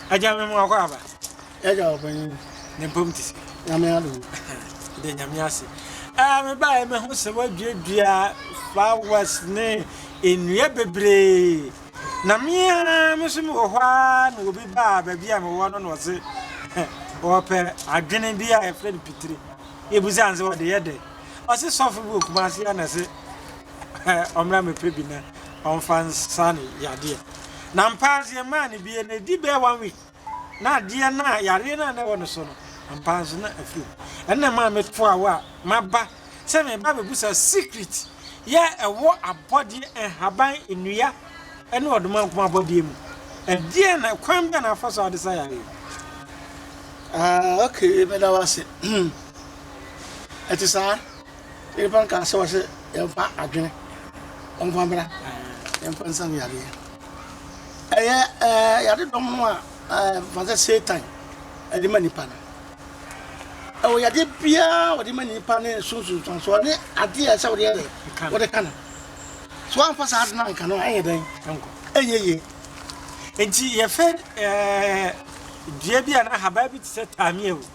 Agya me mu akɔ aba. Agya ɔpanyin. Ne mpam ti sɛ. Nyame ado. De nyame ase. Ah, me ba me ho sɛ waduadua flowers ne nnua bebree. Na me ara me so me wɔ hɔ ara na obi baa baabi a mewɔ no na ɔse ɔpɛ adwene bi a yɛfrɛ no pitire. Ebusa nse wɔde yɛ dɛ. Ɔse sɔfo bi wɔ kumase ha na se ɔmmra mɛpɛ bi na ɔmfa nsa ne yadeɛ. Na ampa ara nso yɛmaa no bi na ɛdi bɛɛ one week na adeɛ no a yareɛ no a na ɛwɔ no so no ampa ara nso na afiri hɔ. Ɛno na ɛmaa metoaa hɔ a maba sɛ mereba abɛbusa secret yɛ a ɛwɔ abɔdeɛ, nhaban, nnua ne ɔdomankoma abɔdeɛ mu. Ɛdeɛn na kwan bɛn na afa so a wɔde sa yareɛ? Ah okay, meda wo ase. Ɛte saa. Na nnipa no kaa sɛ, wɔse, Yɛmfa adwene, wɔmfa mmra, yɛmfa nsa no yareɛ. Ɛyɛ ɛɛ yadedɔm no a ɛɛ mfa sɛ Satan ɛde ma nipa no. Ɛwɔ yadeɛ biara a wɔde ma nipa ne sunsunsuansoɔ ne adeɛ a ɛsɛ wɔde yɛ dɛ, wɔde ka no. So wɔamfa saa ade no anka no a, ɛnyɛ dɛn? Ɛnyɛ yie. Nti yɛfɛ ɛɛ dua bi a na ahaban bi te sɛ taamia o.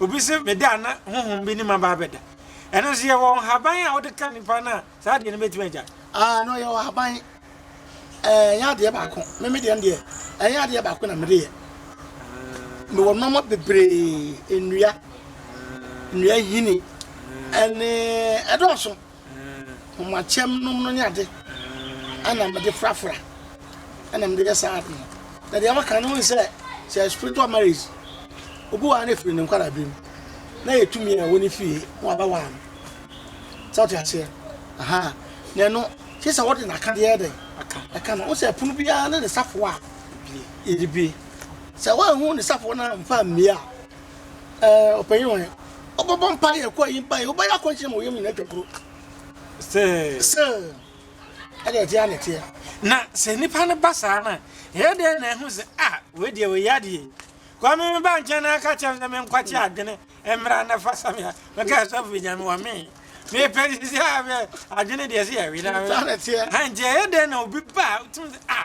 Obi se me da a na honhom bi ne me aba abɛda. Ɛno nso yɛwɔ nhaban a wode ka nipa no a saa adeɛ no bɛtumi agyae. Aah no yɛwɔ ahaban ɛɛ ɛnyɛ adeɛ baako me me deɛ no deɛ ɛnyɛ adeɛ baako na mede yɛ mewɔ nnoɔma bebree nnua nnua nhini ɛne ɛdɔɔso. Hom akyɛm nom no nye adze a nna medze forafora na medze yɛ saa adze no. Na dza wɔakã no, wohu dɛ sɛ spiritual marriage obi waar ne fir no nkwaraaber mu na yetum yɛ wɔ ne fie na ɔabɛwar no. Sɛ ɔtse aseɛ? Ahaa. Na ɛno, gye sɛ wɔdze n'akã yɛ dɛn? Akã no. Wohu sɛ pon biara no ne safowa a yɛdze bue. Sɛ woennhu ne safowa no ammfa ammue a, Ɛɛ, ɔpanyin hwan? Ɔbɛbɔ mpae, ɛkɔ ayi mpae, wobɛyɛ akɔnkyere ma wo yam nyinaa atwa koro. Sɛ. Sɛ. Ɛde ɛte a na ɛteɛ. Na sɛ nnipa no ba saa no a, ɛyɛ dɛn na ɛho sɛ, ah, wei deɛ wei adeɛ. Kwame me ba nkyɛn na aka kyɛm sɛ menkwakye adwene mmra na fa same a, mɛka asɔfo nya me wɔ me. Mepɛ sisi a adwene deɛ sɛ yɛwe na. Nti ɛyɛ dɛn na obi ba a, wotum sɛ, ah.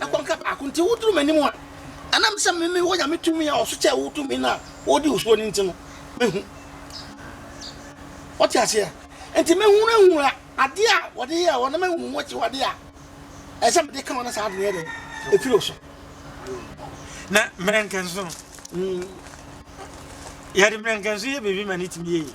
Kɔ nka baako nti woduru m'anim a, ɛnam sɛ me mewɔ Nyame tumi a ɔso kyɛɛ wo tumi no a wode wo soɔ no nti no, mɛhu. Wote aseɛ? Nti mɛhunahuna adeɛ a wɔde yɛɛ wɔ na mahu ho akyiwadeɛ a ɛsɛ sɛ mede ka wɔ na saa ade no yɛ dɛn? Ɛfiri wo so. Na mmerɛnkɛnso no, yɛde mmerɛnkɛnso yɛ biribi ma no tumi yɛ yie.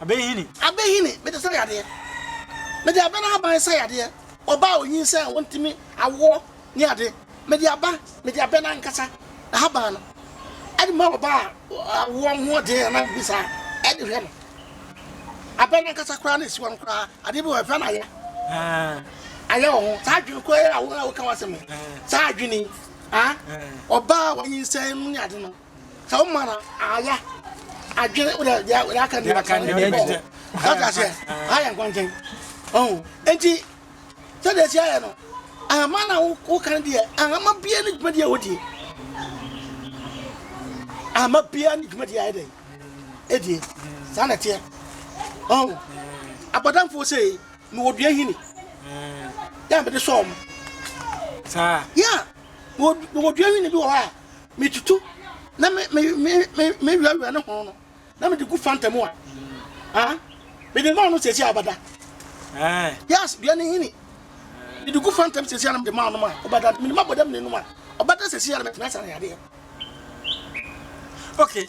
Abɛnhini. Abɛnhini, mede sɛ yadeɛ. Mede abɛ no aban sɛ yadeɛ. Ɔbaa a ɔnyinsɛn a ɔntumi awoɔ ne ade. Mede aba, mede abɛ no ankasa ahaban no de ma ɔbaa a awoɔ ho ɔden anaa biribi saa de hwɛ no. Abɛ no ankasa koraa na ɛsi hɔ no koraa, adeɛ bi wɔ hɔ yɛfrɛ no ayɛ. Ayɛ wɔ ho. Saa adwene korɔ yi a wo a woka w'asɛm yi, saa adwene yi, ɔbaa a wanyinsɛn ne ade no, sɛ wo mana ayɛ adwene wodɛ deɛ wodɛ aka ne bɛka ne deɛ bɔ sɛ ka seɛ ayɛ nkɔntɛn ɔho enti sɛ deɛ si ayɛ no ahama na wo ka ne deɛ ahama bia ne dwuma deɛ wodie ahama bia ne dwuma deɛ ayɛ dɛn ɛdie saa na ɛteɛ ɔho abɔdamfoɔ sɛ mewɔ dua hini yɛ mede sɔɔ mo saa yɛ mewɔ dua hini bi wɔ hɔ a metutu na me me me me mewiawia ne ho no na mede gu fanta mu a ah mede maa no sɛsi abada eh. yes dua ne hini mede gu fanta mu sɛsi a na mede maa no ma ɔbada mede ma bɔdam ne nom a ɔbada sɛsi a na metena asa ne adeɛ okay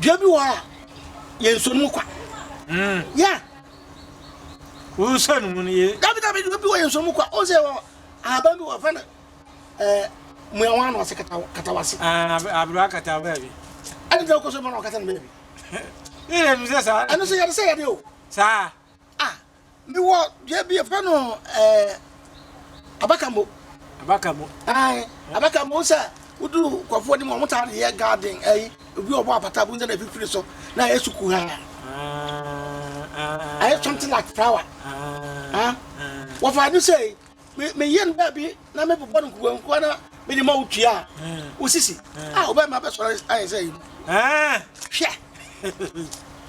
Dua bi wɔ hɔ a, yɛnso no kwa. Mm. Yeah. Wosan mu no ye. Dabi dabi dua bi wɔ yɛnso mu kwa. O sɛ wɔ ahaban bi wɔ fɛ no eh muawa no ase katawa katawa se. Ah, abro akatawa baby. Ɛne dɛ wokɔ so bɔ na ɔkata no baby. Yɛ yɛ no sɛ saa. Ɛno sɛ yɛde sɛ yɛde o. Saa. Mewɔ dua bi yɛfrɛ no ɛɛ abakambo. Abakambo. Ayi abakambo sɛ woduru nkurɔfoɔ anim wɔn taa de yɛ garden ɛyi obi ɔbɔ apata bu nsɛn na efifiri so na ayɛ suku ha. Ayɛ something like flower. Wɔfa ne sɛ Meyɛ no baabi na mebobɔ no nkukuankukua na mede ma wo tua a, wo sisi a wobɛma bɛsɔre ayɛ sɛ yi. Hwɛ!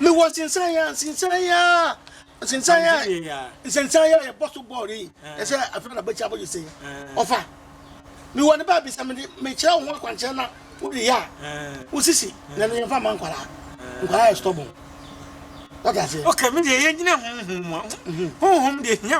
Mewɔ nsensan yɛ nsensan yɛ nsensan yɛ nsensan yɛ yɛbɔ so bɔɔl yi ɛsɛ afei na bɛkyɛ abɔgye sɛ ɔfa mewɔ ne baabi sɛ mede mekyerɛ wo ho akwankyerɛ na wode yɛ a wo sisi na ne yɛmfa ma nkwaraa nkwaraa yɛ stɔbɔn wata ase. Okay, me deɛ yɛnyina honhom mu honhom deɛ hia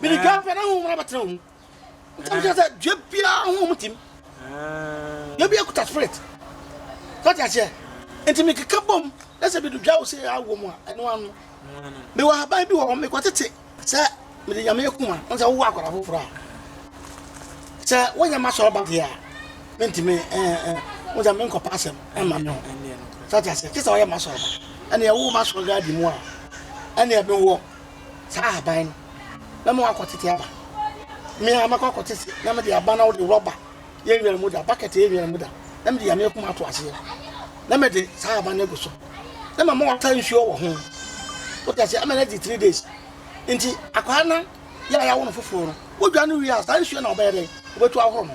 mede dwa pɛ na honhom no bɛtena wo mu ntam kyerɛ sɛ dua biara honhom tim dua bi akuta spirit sɛ te aseɛ nti mekeka bom na sɛ medu dwa wo sɛ awɔ mu a ɛno ano mewɔ haban bi wɔ hɔ mekɔtete sɛ mede nyame aku a ɔn sɛ wowɔ akwara foforɔ a sɛ wonyɛ ma sɔrɔ ba deɛ a mentimi wo sɛ menkɔpa asɛm ɛma me ho sɛ te aseɛ kyɛ sɛ woyɛ ma sɔrɔ ba ɛneɛ wo ma sɔrɔ gaadi mu a ɛneɛ mewɔ saa ahaban no na mewɔ akɔ tete aba me a mɛkɔ akɔ tete na mede aba na wode rɔba yɛ nwera mu da bucket yɛ nwera mu da na mede yame akuma ato aseɛ na mede saa ahaban no agu so na mama wɔta nsuo wɔ ho wote aseɛ ama no adi three days nti akwaa no yɛ a yɛawo no foforɔ no wodwa no wie a saa nsuo na wɔbɛyɛ dɛn wobɛtu ahoro no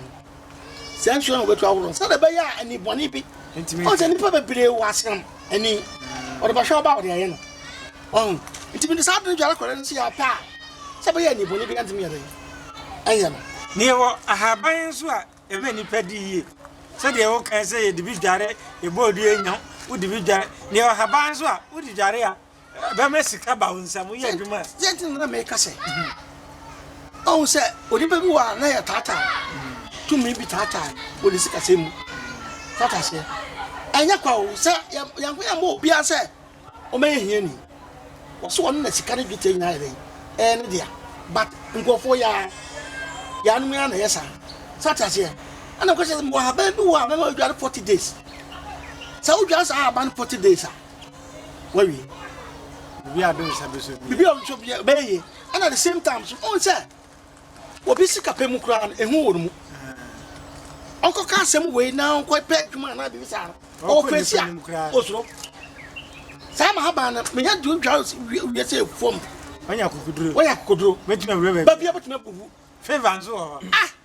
Saa nsuo no wɔbɛtu ahoro sɛdeɛ ɛbɛyɛ a ani bɔne bi ɔn sɛ nnipa bebree wɔ asram ani wɔde bɛhwɛ ɔba wɔde ayɛ no ɔn nti mede saa adwene dware kɔrɛ no sɛ yɛapɛ a sɛ bɛyɛ ani bɔne bi antumi yɛ dɛn ɛnyɛ no Na yɛwɔ ahaban nso a ɛma nnipa di yie sɛdeɛ wokae sɛ yɛde bi dware yɛbɔ odua nya wode bi dware na yɛwɔ ahaban nso a wode dware a Ɛbɛma sika aba wo nsam, woyɛ adwuma a. Deɛ nti na na meka sɛ, ɔhu sɛ onipa bi wɔ a na yɛtaataa no, tumi bi taataa no wɔ ne sikasɛm mu. So ate aseɛ? Ɛnyɛ kwa o sɛ Nyankopɔn amma obiara sɛ ɔmmɛyɛ hiani. Wɔse ɔno na sika ne dwetɛ nyinaa yɛ dɛn? Ɛyɛ ne dea. But nkurɔfoɔ yaa, yaanom ara na ɛyɛ saa. So ate aseɛ? Ɛna meka sɛ mewɔ ahaban bi wɔ a mɛma wadware 40 days. Sɛ wodware saa ahaban no 40 days a, wawie obi a do nsa bi so bibi a nso bia bɛyɛ yie ɛna the same time so ɔn sɛ obi sika pɛ mu koraa no ehu wɔ ne mu ɔnkɔ ka asɛm wei na ɔnkɔ pɛ adwuma anaa biribi saa no ɔwɔ fɛsi a osoro saa ma haban no menya di odwa wiɛ sɛ fam wɔnyɛ akokoduro wɔnyɛ akokoduro mɛtumi awura baabi baabi a bɛtumi abubu favour nso wɔ hɔ ah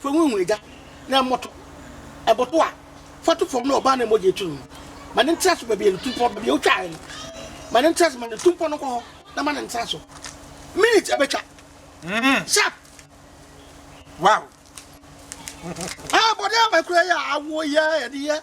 Fa ngo ngu egya na ɛmmɔto. Ɛbɔto a, fa to fam na ɔbaa no a mogya aturu no, ma no ntra so baabi a ne tu mpɔ, baabi a wotwaae no. Ma no ntra so ma ne tu mpɔ no nkɔ hɔ na ma no ntra so minit abɛtwa. Sharp! Wow! Ah, bɔne a makura yɛ awoyɛ a yɛde yɛ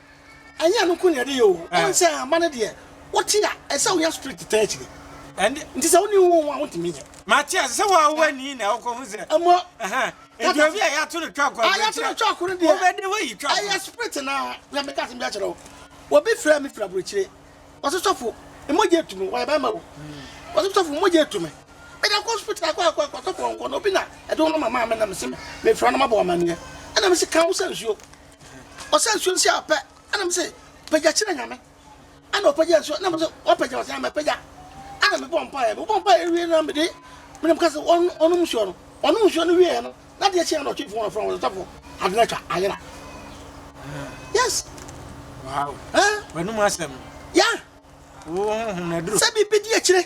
Ɛnyɛ ɛno nko na yɛde yɛ oo, ɛwom sɛ mma no deɛ wote a, ɛsɛ sɛ wonya spirit taa akyire. Ɛnde, nti sɛ wonni honhom a, wontumi nyɛ. Mate ase sɛ wo a wowɔ ani na wokɔhu sɛ. Mmɔ. Ɛhã. Nti obi a yɛato no twɔko a, yɛato no twɔko no deɛ, wobɛdi hɔ ayi twɔko. Ɛyɛ spirit no ara. Hwɛ, mɛka asɛm bi akyerɛ wo. Obi frɛɛ me firi aburokyire. Ɔse, Sɔfo, me mogya atu me. Ɔyɛ barima o. Ɔse, Sɔfo, me mogya atu me. Mede akɔ hospital, akɔ, akɔ, akɔ, sɔfo ɔnkɔ. Na obi na ɛde wo nɔma maa me na mese mefrɛ no mabɔ wo amanneɛ. Ɛna mese, Ka wo sa nsuo. Ɔsɛ nsuo nsi a pɛ ɛna mi se pagya kyerɛ nyame ɛna ɔpagya nsuo ɛna mi se wapagya ɔsɛ ama pagya ɛna mi bɔ mpaeɛ mi bɔ mpaeɛ wie na mi de mi nam kasi wɔn wɔn nsuo no wɔn nsuo no wie no na deɛ kyɛn na ɔtwe fun ɔfrɔn wɔn sɔfo adena twa ayera yes wow ɛɛ wɔn mu asɛm ya wɔn ho ho na duro sɛ bibi di akyire.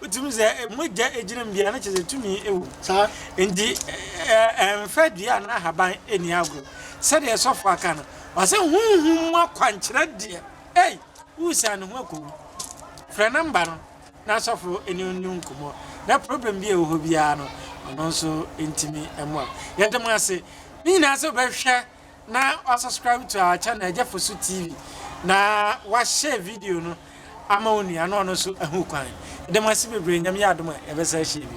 Wotumi hu sɛ mogya gyinam dua no, kyerɛ sɛ tumi wom. Saa. Enti ɛmfa dua anaa ahaban nni agorɔ. Sɛdeɛ sɔfo aka no, ɔsɛ honhom mu akwankyerɛ deɛ, ei, woresan ne ho akɔ mu. Frɛ nɔmba no na sɔfo ne wo nni nkɔmmɔ, na problem bi a ɛwɔ hɔ biara no, ɔno nso ntumi mmoa wo. Yɛda mo ase, ne nyinaa sɛ wobɛhwɛ na wa subscribe to our channel ɛgya fosu tv na wa share video no ama onua na ɔno nso ɛho kwan ɛdɛm ase bebree nyame yɛ adom a ɛbɛsa ahyia bi.